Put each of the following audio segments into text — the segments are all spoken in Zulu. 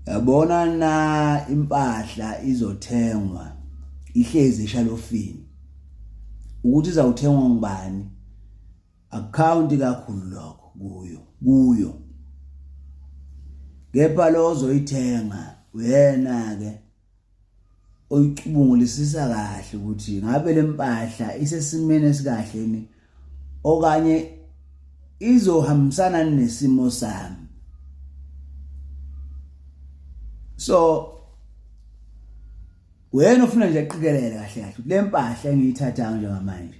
yabona na impahla izothengwa ihlezi eshalofini ukuthi izawuthengwa ngubani account kakhulu lokho kuyo kuyo kepha lozoyithenga uyena ke uyicubungulisisa kahle ukuthi ngabe lempahla isesimeni esikahle ni okanye izohambisana nesimo sami so wena ufuna nje aqikelele kahle kahle lempahla engiyithathayo njengamanje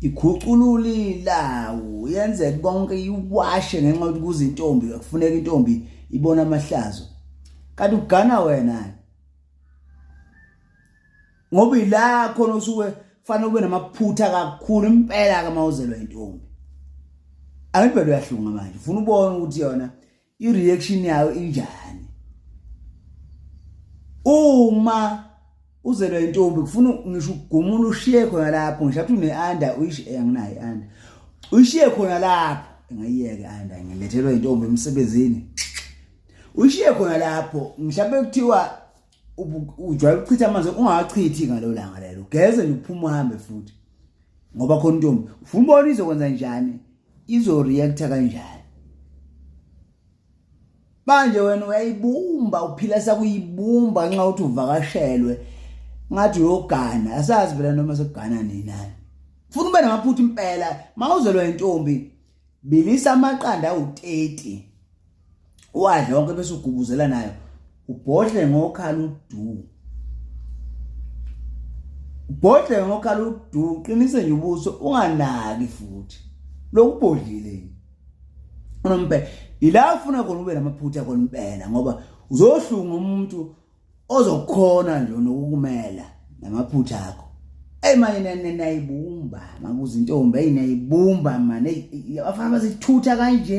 ikhuculula ilawu yenze konke iwashe ngenxa yokuthi kuze intombi kufuneka intombi ibona amahlazo kanti ugana wena ngoba ila khona usuke fanele ube namaphutha kakhulu impela ke mawuzelwa intombi angibhele uyahlunga manje ufuna ubone ukuthi yona i reaction yayo injani uma uzelwa intombi kufuna ngisho ukugumula ushiye khona lapho ngisho ukuthi une under uyishiye eh, anginayo under uyishiye khona lapho ngayiyeke anda ngilethelwa intombi emsebenzini ushiye khona lapho mhlawumbe kuthiwa ujwayele ukuchitha amanzi ungawachithi ngalo langa lelo ugeze nje uphuma uhambe futhi ngoba khona intombi ufuna ubona izokwenza njani izoreacta kanjani manje wena uyayibumba uphila sakuyibumba nxa uthi uvakashelwe ngathi uyogana asazi phela noma sekugana nini nani funa ube namaphutha impela mawuzelwa intombi Bilisa amaqanda awu-30 uwadle wonke bese ugubuzela nayo ubhodle ngokhala udu ubhodle ngokhala udu uqinise nje ubuso unganaki futhi lokubhodlile unomphela ila ufuna khona ube namaphutha khona impela ngoba uzohlunga umuntu ozokhona nje nokukumela namaphutha akho eyi mane nayibumba makuze intombi eyi nayibumba mane abafana bazithutha kanje